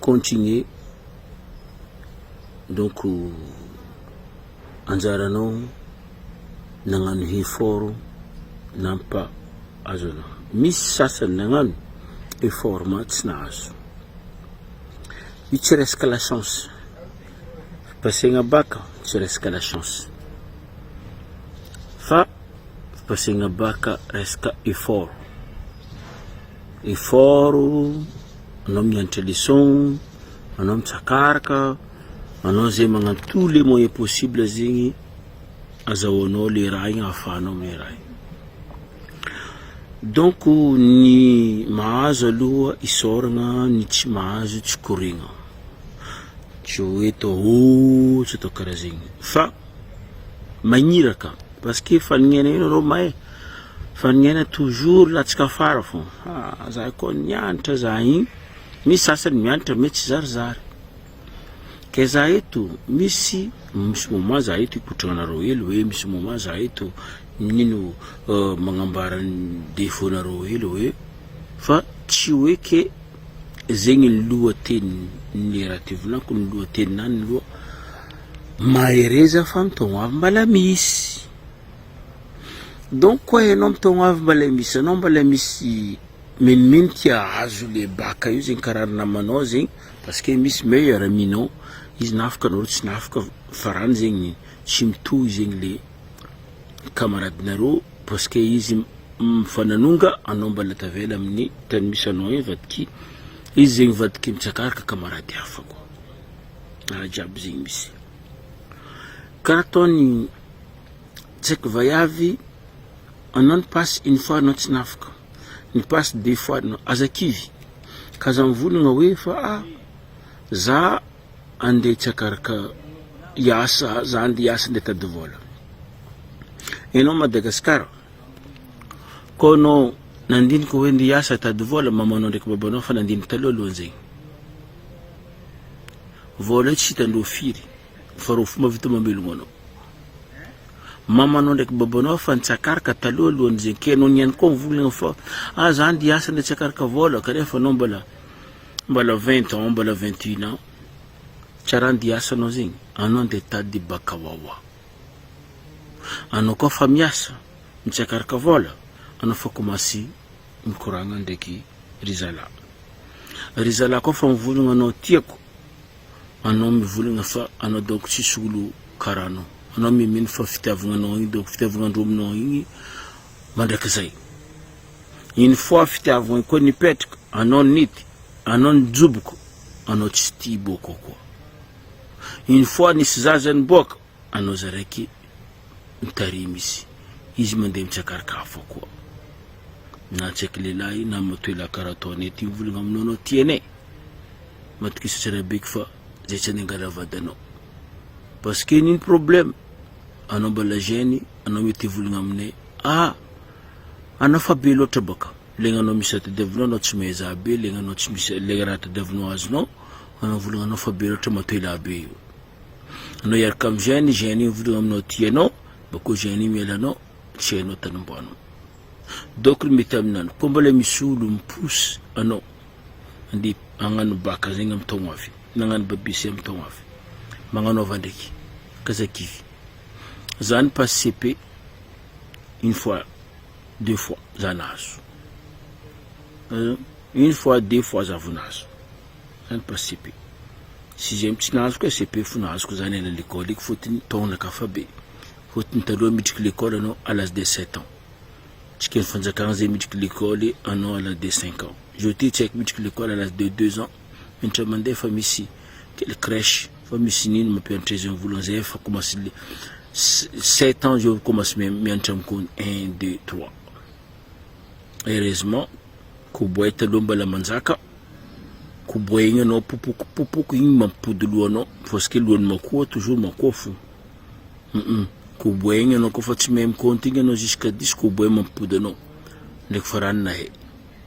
Continuer donc anjaranao nagnano effort nampa azo anao misy sasany nagnano effort ma tsy nahazo io tsy resaka la chance pasegna bac tsy resaka la chance fa pasegna bac resaka effort effort Anao mianatra leçon, anao mitsakaraka, anao zay magnano tous les moyens possibles zegny azahoanao le raha igny ahafahanao miray. Donc ny mahazo aloha isaoragna, ny tsy mahazo tsy koregna. Tsy hoe atao oh, tsy atao karaha zegny fa. magniraka parce que fanognena io nareo mahay fanognena toujours latsaka afara fô ah za koa nianatra za igny misy sasany mianatra me tsy zarizary ke za eto misy misy moment za eto hikotragna anareo hely hoe misy moment za eto nino magnambara ny defaut nareo hely hoe fa tsy hoe ke Zegny ny lohateny ny raha ty volako ny lohateninany loha mahereza fa mitogno avy mbala misy donc koa enao mitogno avy mbala misy anao mbala misy minomino ty ahazo le baka io zegny karaha ry namanao zegny parce que misy meilleur ami-nao izy na afaka nareo tsy na afaka farany zegny tsy mitohy zegny le. kamaradinareo parce que izy mifananonga anao mbala tavela amin'ny tany misy anao iny vadiky izy zegny vadiky mitsakaraka kamarady hafa koa raha jiaby zegny misy karaha ataony tsaiky vaiavy anao ny pasy une fois anao tsy nafaka ny pasy deux fois anao aza kivy ka za mivolagna hoe fa ah za Andeha tsy akaraka hiasa za andeha hiasa ndeha tady vola enao Madagascar ko enao nandinika hoe ndeha hiasa tady vola mamanao ndraiky babanao fa nandinika taloha aloha zegny vola io tsy hitandreo firy fa reo fomba vita mamelogno anao mamanao ndraiky babanao fa nitsakaraka taloha alohan'ny zegny ke enao niany koa mivolagnana fa ah za andeha hiasa ndeha tsy akaraka vola kanefa anao mbola Mbola vingt ans mbola vingt une ans tsa raha andeha hiasa anao zegny anao andeha hitady baka wawa anao koa fa miasa mitsiakaraka vola anao fa komasy mikoragna ndraiky ry zala ry zala koa fa mivolagna anao tiako anao mivolagna fa anao donc tsisy olo karaha anao anao mimino fa fitiavagna anao igny donc fitiavagna androminao igny mandrakizay. Une fois fitiavagna koa nipetraka, anao nity, anao nijoboko, anao tsy tia hiboaka ao koa. Une fois nisy zaza niboaka, anao za raiky mitarimy izy, izy mandeha mitsakaraka hafa koa. Na tsy haiko lehilahy na matoa elah karaha ataonay ity mivolagna aminao anao tia anay. Matokisatry anay beko fa zay tsy handeha hangala vady anao. Parce que nino problème, anao mbala jeune, anao mety hivolagna aminay, ah! Anao fa be loatra baka legna nao misy raha tadiavinao anao tsy mehezaha be legna nao tsy misy legna raha tadiavinao azonao anao volagna anao fa be loatra matoa elaha be io anao hiaraka am gène gène io mivolagna aminao ty anao bakeo gène io miala anao tsy hainao tany ombanao donc ny mety aminany koa mbola misy olo mipousse anao andeha agnano baka zegny am taogno avy nagnano babise am taogno avy magnanaova ndraiky kaza kivy zany passe cp une fois deux fois za nahazo une fois deux fois za vao nahazo zany pas CP sixième tsy nahazo koa CP fo nahazoko zany ela lekôly eky fôtony taogna ka fa be fôtony taloha miditry lekôly anao à l'âge de sept ans tsika fanjakagna zay miditry lekôly anao à l'âge de cinq ans zao ty tsy aiko miditry lekôly à l'âge de deux ans. indray mandeha fa misy kely crèche fa misy nino mampianatra izy volana zay efa commence le sept ans zao commence mianatra amiko un deux trois heureusement koboay taloha mbala manjaka koboay igny anao popoko popoko igny mampipody lohanao parce que lohan'ny makoa toujours makoa fo koboay igny anao kofa tsy mahay mikaonty igny anao jusqu'à dix koboay mampipody anao ndraiky farany nahay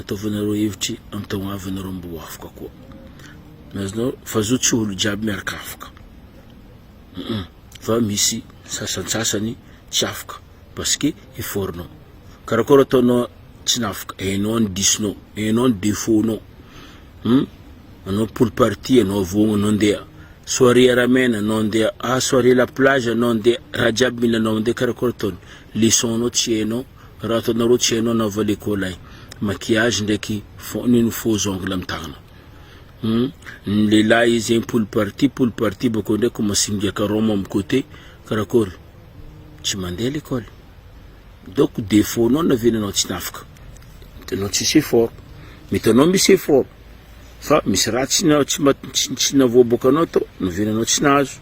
Ataovanareo hevitry am tao havanareo mbo afaka koa nazonao fa zo tsy olo jiaby miaraka afaka hum fa misy sasantsasany tsy afaka parce que effort nao karakôry ataonao tsy nafaka hainao ny disonao hainao ny defaut nao hum anao pool party anao voagna anao ndeha soirée aramena anao ndeha ah soirée la plage anao ndeha raha jiaby mila anao ndeha karakôry ataony leçon nao tsy hainao Raha ataonareo tsy hainao na valeko lay maquillage ndraiky fo- nino faux ongle am tagnana Hum, ny lehilahy izy zegny poly party poly party bakeo ndray ko masingiaka rhum am côté karakory tsy mandeha lekôly donc défaut nao na vina anao tsy tafika hitanao tsisy effort mety anao misy effort fa misy raha tsy na- tsy ma- tsy- tsy navoaboaka anao tao na vina anao tsy nahazo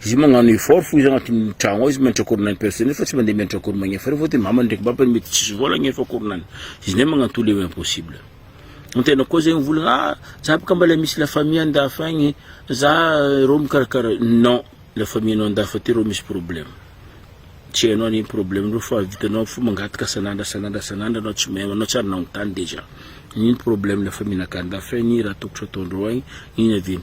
Izy magnano effort fo izy agnatin'ny tragno ao izy miantra cours nany personnel fa tsy mandeha miantra cours magnefa reo fa de mamany ndraiky babany mety tsisy vola agnefa cours nany izy ndray magnano tous les hoe impossible ny tegna koa zegny volagna ah za boka mbala misy la famille andafy agny za reo mikarakara non la famille anao andafy aty reo misy problème tsy hainao anie ny problème reo fa vitanao fo mangataka san'andro san'andro san'andro anao tsy mahay anao tsy ary nagnontany dejà ino problème la famille nakà andafy agny ino raha tokotro ataondreo agny ino avy ino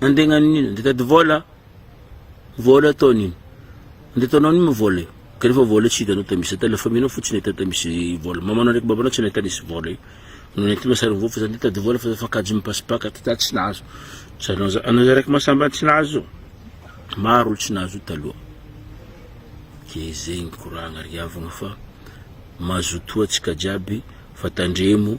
andegnaniny iny dia tady vola vola ataony iny andeha ataonao ny moa vola io ka rehefa vola tsy hitanao tao misy tala faminao fotsiny hita tao misy vola mamanao ndraiky babanao tsy nahita nisy vola io no nentinao sary voa fa zany dia tady vola fa fakajy mipasipaka ty tady tsy nahazo sary anao za- anao za raiky masamba tsy nahazo maro olo tsy nahazo io taloha ke zegny koragna ry havagna fa mazotoa antsika jiaby fa tandremo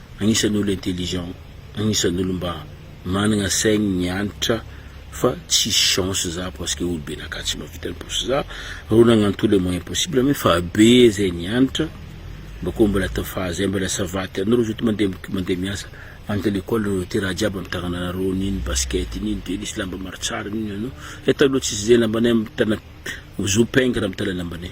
agnisan'ny olo intelligent, agnisan'ny olo mba managna saigny ny Hanitra fa tsisy chance za parce que olo be naka tsy mahavita ny posy za rô nagnanto le moyen possible me fa be zay ny Hanitra mba kô mbola tafaha zay mbola ça va ty anarô zotry mande mande miasa any tale école narô ty raha jiaby amy tagnana narô nino basket nino tennis lamba maro tsara nino anô zay taloha tsisy zay lambanay amy tana zo pingre amy tale lambanay.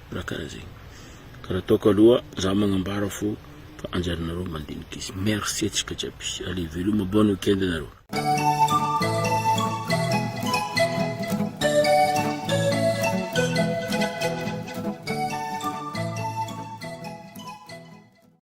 Raha karaha zegny. Ka raha ataoko aloha za magnambara fô fa anjaranareo mandinika izy. Merci atsika jiaby. Allez veloma bonne week-end anareo.